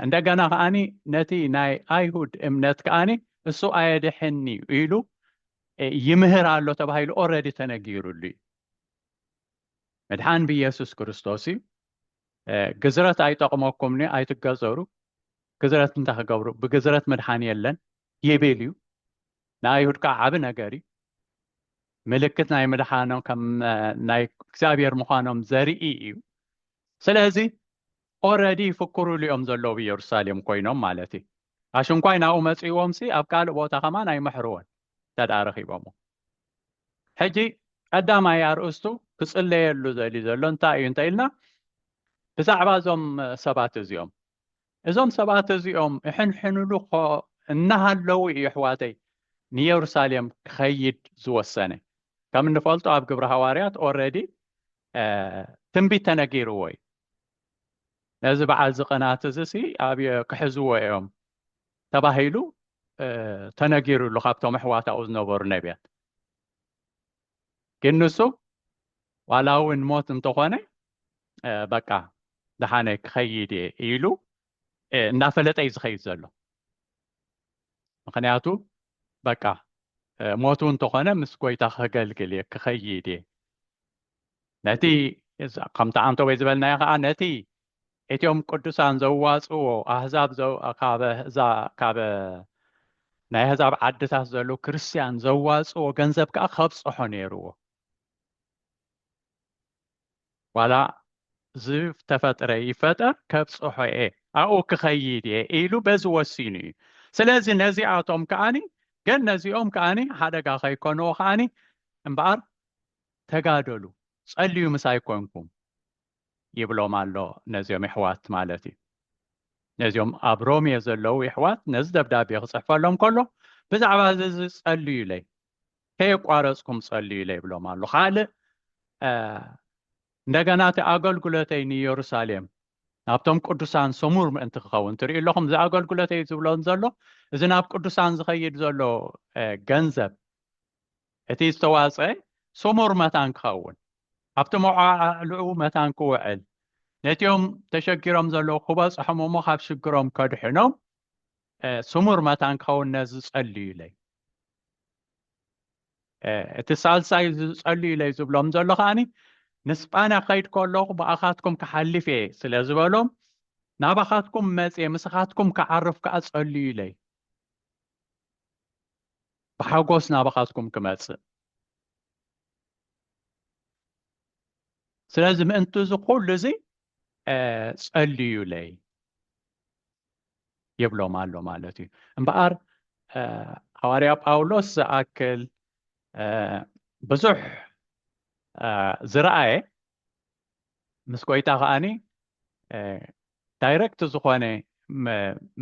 እንደገና ከዓኒ ነቲ ናይ ኣይሁድ እምነት ከዓኒ እሱ ኣየድሕኒ ኢሉ ይምህር ኣሎ ተባሂሉ ኦረዲ ተነጊሩሉ እዩ ምድሓን ብኢየሱስ ክርስቶስ እዩ ግዝረት ኣይጠቕመኩምኒ ኣይትገዘሩ ገዘረት እንታይ ክገብሩ ብገዘረት መድሓኒ የለን ይብል እዩ ንኣይሁድ ከዓ ዓብ ነገር እዩ ምልክት ናይ ምድሓኖም ከም ናይ እግዚኣብሔር ምዃኖም ዘርኢ እዩ ስለዚ ኦረዲ ይፍክሩሉ እዮም ዘለዉ ኢየሩሳሌም ኮይኖም ማለት እዩ ኣሽንኳይ ናብኡ መፅእዎም ሲ ኣብ ካልእ ቦታ ከማን ኣይምሕርዎን ተደኣ ረኺቦሞ ሕጂ ቀዳማይ ኣርእስቱ ክፅለየሉ ዘልዩ ዘሎ እንታይ እዩ እንተ ኢልና ብዛዕባ እዞም ሰባት እዚኦም እዞም ሰባት እዚኦም እሕንሕንሉኮ እናሃለዉ እዩ ኣሕዋተይ ንየሩሳሌም ክኸይድ ዝወሰነ ከም እንፈልጦ ኣብ ግብረ ሃዋርያት ኦረዲ ትንቢት ተነጊርዎ እዩ ነዚ በዓል ዝቕናት እዚ ሲ ኣብ ክሕዝዎ እዮም ተባሂሉ ተነጊሩሉ ካብቶም ኣሕዋታኡ ዝነበሩ ነቢያት ግን ንሱ ዋላ እውን ሞት እንተኾነ በቃ ደሓነ ክኸይድ እየ ኢሉ እናፈለጠ እዩ ዝኸይድ ዘሎ ምክንያቱ በቃ ሞቱ እንተኾነ ምስ ጎይታ ከገልግል እየ ክኸይድ እየ ነቲ ከምቲ ኣንተ ወይ ዝበልናዮ ከዓ ነቲ እቲኦም ቅዱሳን ዘዋጽዎ ኣህዛብ ካበ ናይ ኣህዛብ ዓድታት ዘሎ ክርስትያን ዘዋጽዎ ገንዘብ ከዓ ከብጽሖ ነይርዎ ዋላ ዝተፈጥረ ይፈጠር ከብፅሖ እየ ኣብኡ ክኸይድ እየ ኢሉ በዚ ወሲኑ እዩ ስለዚ ነዚኣቶም ከዓኒ ግን ነዚኦም ከዓኒ ሓደጋ ከይኮንዎ ከዓኒ እምበኣር ተጋደሉ ጸልዩ ምሳይ ኮንኩም ይብሎም ኣሎ ነዚኦም የሕዋት ማለት እዩ ነዚኦም ኣብ ሮሜ ዘለዉ የሕዋት ነዚ ደብዳቤ ክጽሕፈሎም ከሎ ብዛዕባ እዚ እዚ ጸልዩለይ ከየቋረጽኩም ጸልዩለይ ይብሎም ኣሎ ካልእ እንደገና እቲ ኣገልግሎተይ ንኢየሩሳሌም ናብቶም ቅዱሳን ሰሙር ምእንቲ ክኸውን ትርኢ ኣለኹም እዚ ኣገልግሎተይ ዝብሎን ዘሎ እዚ ናብ ቅዱሳን ዝኸይድ ዘሎ ገንዘብ እቲ ዝተዋጽኣ ስሙር መታን ክኸውን፣ ኣብቲ መወዓዓዕልኡ መታን ክውዕል፣ ነቲኦም ተሸጊሮም ዘለዉ ክበጽሖም እሞ ካብ ሽግሮም ከድሕኖም ስሙር መታን ክኸውን ነዚ ጸልዩ ኢለይ። እቲ ሳልሳይ ዝጸልዩ ኢለይ ዝብሎም ዘሎ ከኣኒ ንስጳንያ ክኸይድ ከለኹ ብኣኻትኩም ክሓልፍ እየ ስለ ዝበሎም ናባኻትኩም መጽየ ምስኻትኩም ክዓርፍ ከኣ ጸልዩ ኢለይ። ብሓጎስ ናባኻትኩም ክመጽእ ስለዚ ምእንቲ እዚ ኩሉ እዚ ጸልዩለይ ይብሎም ኣሎ ማለት እዩ እምበኣር ሃዋርያ ጳውሎስ ዝኣክል ብዙሕ ዝረኣየ ምስ ጎይታ ከዓኒ ዳይረክት ዝኾነ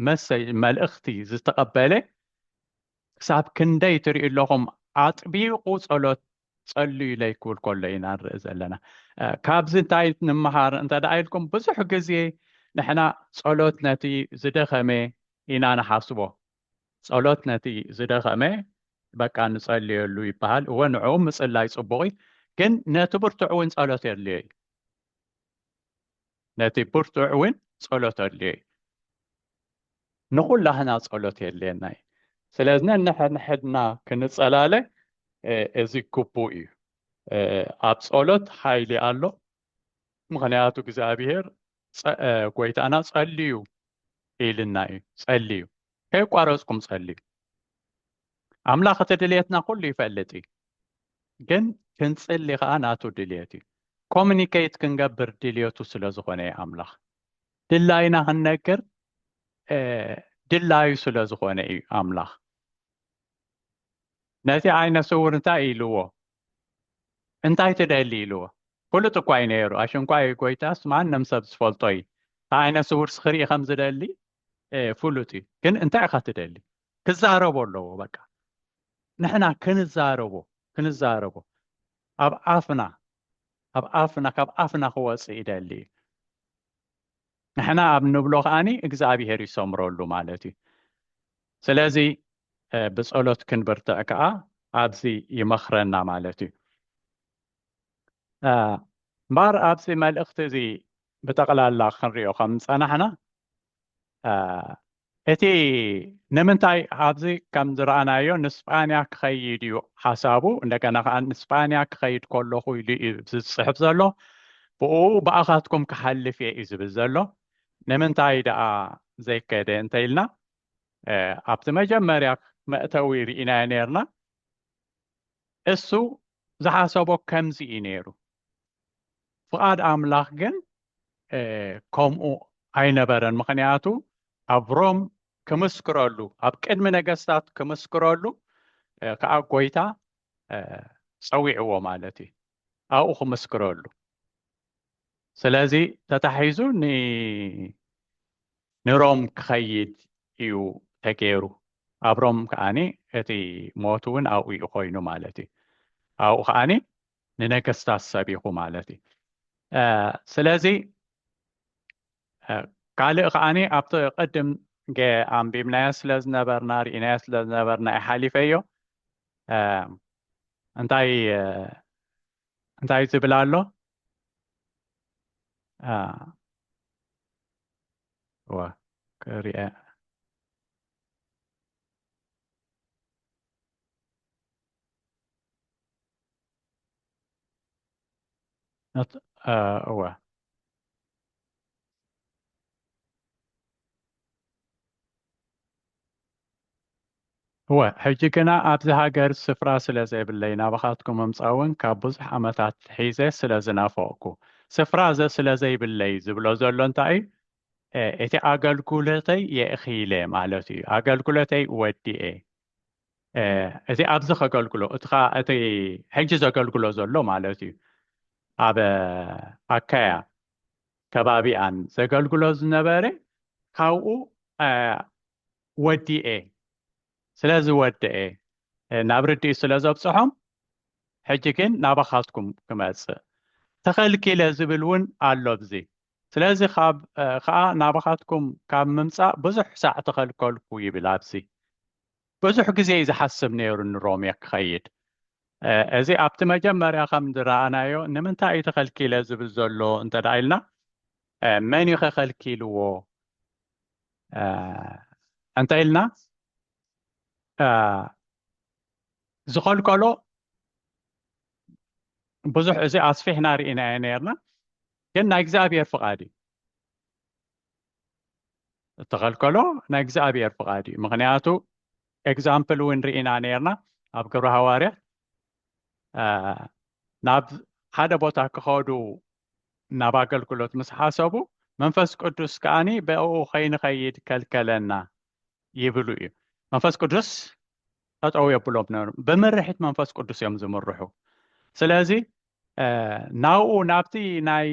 መሰጅ መልእኽቲ ዝተቐበለ ክሳብ ክንደይ ትሪኡ ኣለኹም ኣጥቢቑ ጸሎት ጸልዩ ኢለ ክብል ከሎ ኢና ንርኢ ዘለና ካብዚ እንታይ ንምሃር እንተ ደኣ ኢልኩም ብዙሕ ግዜ ንሕና ጸሎት ነቲ ዝደኸመ ኢና ንሓስቦ ጸሎት ነቲ ዝደኸመ በቃ ንጸልየሉ ይበሃል እወ ንዕኡ ምጽላይ ጽቡቕ እዩ ግን ነቲ ብርቱዕ እውን ጸሎት የድልዮ እዩ ነቲ ብርቱዕ እውን ጸሎት ኣድልዮ እዩ። ንኹላህና ጸሎት የድልየና እዩ። ስለዚ ነንሕድሕድና ክንጸላለ እዚ ግቡእ እዩ። ኣብ ጸሎት ሓይሊ ኣሎ። ምክንያቱ እግዚኣብሔር ጎይታና ጸልዩ ኢልና እዩ። ጸልዩ ከየቋረጽኩም ጸልዩ ኣምላኽ እቲ ድልየትና ኩሉ ይፈልጥ እዩ ግን ክንጽሊ ከዓ ናቱ ድልየት እዩ ኮሚኒኬት ክንገብር ድልየቱ ስለ ዝኾነ እዩ ኣምላኽ ድላይና ክንነግር ድላዩ ስለ ዝኾነ እዩ ኣምላኽ ነቲ ዓይነ ስውር እንታይ ኢልዎ እንታይ ትደሊ ኢልዎ ፍሉጥ እኳ እዩ ነይሩ ኣሽንኳይ ጎይታስ ማንም ሰብ ዝፈልጦ እዩ ዓይነ ስውር ስኽርኢ ከም ዝደሊ ፍሉጥ እዩ ግን እንታይ ኢካ ትደሊ ክዛረቦ ኣለዎ በቃ ንሕና ክንዛረቦ ክንዛረቦ ኣብ ኣፍና ኣብ ኣፍና ካብ ኣፍና ክወፅእ ይደሊ እዩ ንሕና ኣብ ንብሎ ከዓኒ እግዚኣብሄር ይሰምረሉ ማለት እዩ ስለዚ ብፀሎት ክንብርትዕ ከዓ ኣብዚ ይመክረና ማለት እዩ እምበኣር ኣብዚ መልእኽቲ እዚ ብጠቕላላ ክንሪኦ ከም ዝፀናሕና እቲ ንምንታይ ኣብዚ ከም ዝረኣናዮ ንስጳንያ ክኸይድ እዩ ሓሳቡ እንደገና ከዓ ንስጳንያ ክኸይድ ከለኹ ኢሉ እዩ ዝፅሕፍ ዘሎ ብኡ ብኣኻትኩም ክሓልፍ እየ እዩ ዝብል ዘሎ ንምንታይ ደኣ ዘይከደ እንተኢልና ኣብቲ መጀመርያ መእተዊ ርኢናዮ ነርና እሱ ዝሓሰቦ ከምዚ እዩ ነይሩ፣ ፍቓድ ኣምላኽ ግን ከምኡ ኣይነበረን። ምኽንያቱ ኣብ ሮም ክምስክረሉ፣ ኣብ ቅድሚ ነገስታት ክምስክረሉ ከዓ ጎይታ ፀዊዕዎ ማለት እዩ፣ ኣብኡ ክምስክረሉ። ስለዚ ተታሒዙ ንሮም ክኸይድ እዩ ተገይሩ ኣብ ሮም ከዓኒ እቲ ሞት እውን ኣብኡ እዩ ኮይኑ ማለት እዩ ኣብኡ ከዓኒ ንነገስታት ሰቢኹ ማለት እዩ ስለዚ ካልእ ከዓኒ ኣብቲ ቅድም ኣንቢብናዮ ስለ ዝነበርና ርኢናዮ ስለ ዝነበርና ይሓሊፈዮ እንታይ እንታይ ዝብል ኣሎ ዋ ክሪአ እዋ እወ ሕጂ ግና ኣብዚ ሃገር ስፍራ ስለ ዘይብለይ ናባኻትኩም ምምጻእ እውን ካብ ብዙሕ ዓመታት ሒዘ ስለ ዝናፈቕኩ ስፍራ ዘስለ ዘይብለይ ዝብሎ ዘሎ እንታይ እዩ እቲ ኣገልግሎተይ የእኺለ ማለት እዩ ኣገልግሎተይ ወዲኤ እቲ ኣብዚ ከገልግሎ እቲ ከዓ እቲ ሕጂ ዘገልግሎ ዘሎ ማለት እዩ ኣብ ኣካያ ከባቢኣን ዘገልግሎ ዝነበረ ካብኡ ወዲኤ ስለ ዝወደኤ ናብ ርድኢት ስለ ዘብጽሖም ሕጂ ግን ናባኻትኩም ክመጽእ ተኸልኪለ ዝብል እውን ኣሎ ብዚ ስለዚ ከዓ ናባኻትኩም ካብ ምምፃእ ብዙሕ ሳዕ ተኸልከልኩ ይብል ኣብዚ ብዙሕ ግዜ እዩ ዝሓስብ ነይሩ ንሮሜ ክኸይድ እዚ ኣብቲ መጀመርያ ከም ዝረኣናዮ ንምንታይ እዩ ተኸልኪለ ዝብል ዘሎ እንተ ኢልና መን እዩ ከኸልኪልዎ እንተ ኢልና ዝኸልከሎ ብዙሕ እዚ ኣስፊሕና ርኢናዮ ነርና ግን ናይ እግዚኣብሔር ፍቓድ እዩ እተኸልከሎ ናይ እግዚኣብሔር ፍቓድ እዩ ምክንያቱ ኤግዛምፕል እውን ርኢና ነርና ኣብ ግብረ ሃዋርያ ናብ ሓደ ቦታ ክኸዱ ናብ ኣገልግሎት ምስ ሓሰቡ መንፈስ ቅዱስ ከዓኒ ብኡ ከይንኸይድ ከልከለና ይብሉ እዩ መንፈስ ቅዱስ ጠጠው የብሎም ነሩ ብምርሒት መንፈስ ቅዱስ እዮም ዝምርሑ ስለዚ ናብኡ ናብቲ ናይ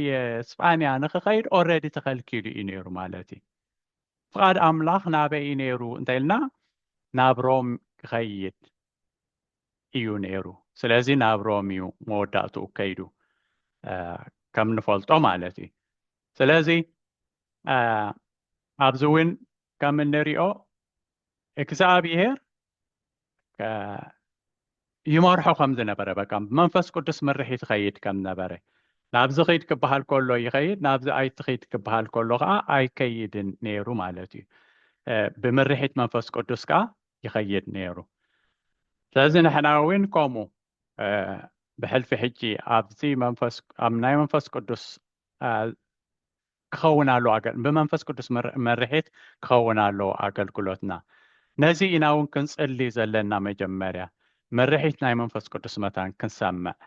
ስጳንያ ንክኸይድ ኦረዲ ተኸልኪሉ እዩ ነይሩ ማለት እዩ ፍቓድ ኣምላኽ ናበይ እዩ ነይሩ እንተኢልና ናብ ሮም ክኸይድ እዩ ነይሩ ስለዚ ናብ ሮም እዩ መወዳእትኡ ከይዱ ከም ንፈልጦ ማለት እዩ ስለዚ ኣብዚ እውን ከም እንሪኦ እግዝኣብሄር ይመርሖ ከም ዝነበረ በቃ ብመንፈስ ቅዱስ ምርሒት ይኸይድ ከም ነበረ ናብዚ ኺድ ክበሃል ከሎ ይኸይድ ናብዚ ኣይትኺድ ክበሃል ከሎ ከዓ ኣይከይድን ነይሩ ማለት እዩ ብምርሒት መንፈስ ቅዱስ ከዓ ይኸይድ ነይሩ ስለዚ ንሕና እውን ከምኡ ብሕልፊ ሕጂ ኣብዚ መንፈስ ኣብ ናይ መንፈስ ቅዱስ ክኸውን ኣለዎ ኣገል ብመንፈስ ቅዱስ መርሒት ክኸውን ኣለዎ ኣገልግሎትና ነዚ ኢና ውን ክንጽሊ ዘለና መጀመርያ መርሒት ናይ መንፈስ ቅዱስ መታን ክንሰምዕ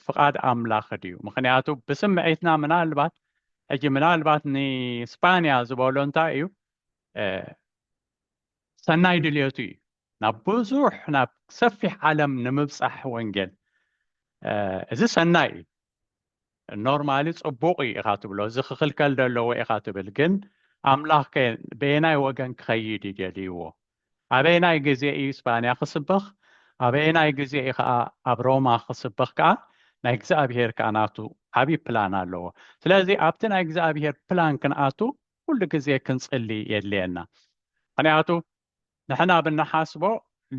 ፍቃድ ኣምላኽ ድዩ ምኽንያቱ ብስምዒትና ምናልባት ሕጂ ምናልባት ንስፓንያ ዝበሎ እንታይ እዩ ሰናይ ድልየቱ እዩ ናብ ብዙሕ ናብ ሰፊሕ ዓለም ንምብጻሕ ወንጌል እዚ ሰናይ እዩ ኖርማሊ ጽቡቕ እዩ ኢኻ ትብሎ እዚ ክኽልከል ደለዎ ኢኻ ትብል ግን ኣምላኽ ከ በየናይ ወገን ክኸይድ እዩ ደልይዎ ኣበየናይ ግዜ እዩ ስጳንያ ክስበኽ ኣበየናይ ግዜ እዩ ከዓ ኣብ ሮማ ክስበኽ ከዓ ናይ እግዚኣብሄር ከዓ ናቱ ዓብዪ ፕላን ኣለዎ ስለዚ ኣብቲ ናይ እግዚኣብሄር ፕላን ክንኣቱ ኩሉ ግዜ ክንጽሊ የድልየና ምክንያቱ ንሕና ብንሓስቦ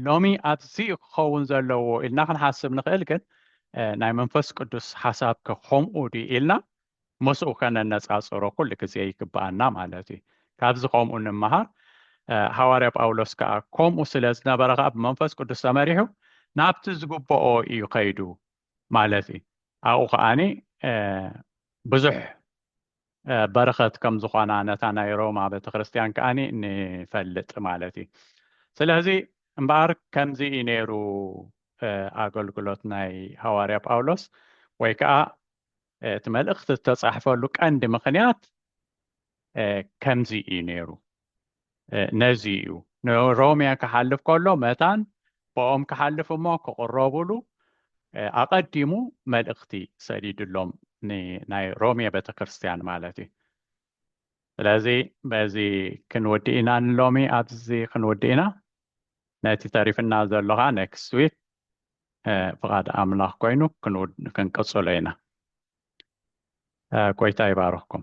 ሎሚ ኣዚዩ ክኸውን ዘለዎ ኢልና ክንሓስብ ንኽእል ግን ናይ መንፈስ ቅዱስ ሓሳብ ከ ከምኡ ድዩ ኢልና ምስኡ ከነነጻጽሮ ኩሉ ግዜ ይግብኣና ማለት እዩ ካብዚ ከምኡ ንምሃር ሃዋርያ ጳውሎስ ከዓ ከምኡ ስለ ዝነበረ ከዓ ብመንፈስ ቅዱስ ተመሪሑ ናብቲ ዝግብኦ እዩ ከይዱ ማለት እዩ ኣብኡ ከዓኒ ብዙሕ በረኸት ከም ዝኾና ነታ ናይ ሮማ ቤተ ክርስቲያን ከኣ ንፈልጥ ማለት እዩ ስለዚ እምበኣር ከምዚ እዩ ነይሩ ኣገልግሎት ናይ ሃዋርያ ጳውሎስ ወይ ከዓ እቲ መልእኽቲ ዝተፃሕፈሉ ቀንዲ ምኽንያት ከምዚ እዩ ነይሩ ነዚ እዩ ንሮሚያ ክሓልፍ ከሎ መታን ብኦም ክሓልፍ እሞ ክቕረቡሉ ኣቐዲሙ መልእኽቲ ሰዲድሎም ናይ ሮሚያ ቤተ ክርስቲያን ማለት እዩ ስለዚ በዚ ክንወዲ ኢና ንሎሚ ኣብዚ ክንወዲ ኢና ነቲ ተሪፍና ዘሎ ከዓ ኔክስት ዊክ ፍቓድ ኣምላኽ ኮይኑ ክንቅፅሎ ኢና ጎይታ ይባርኽኩም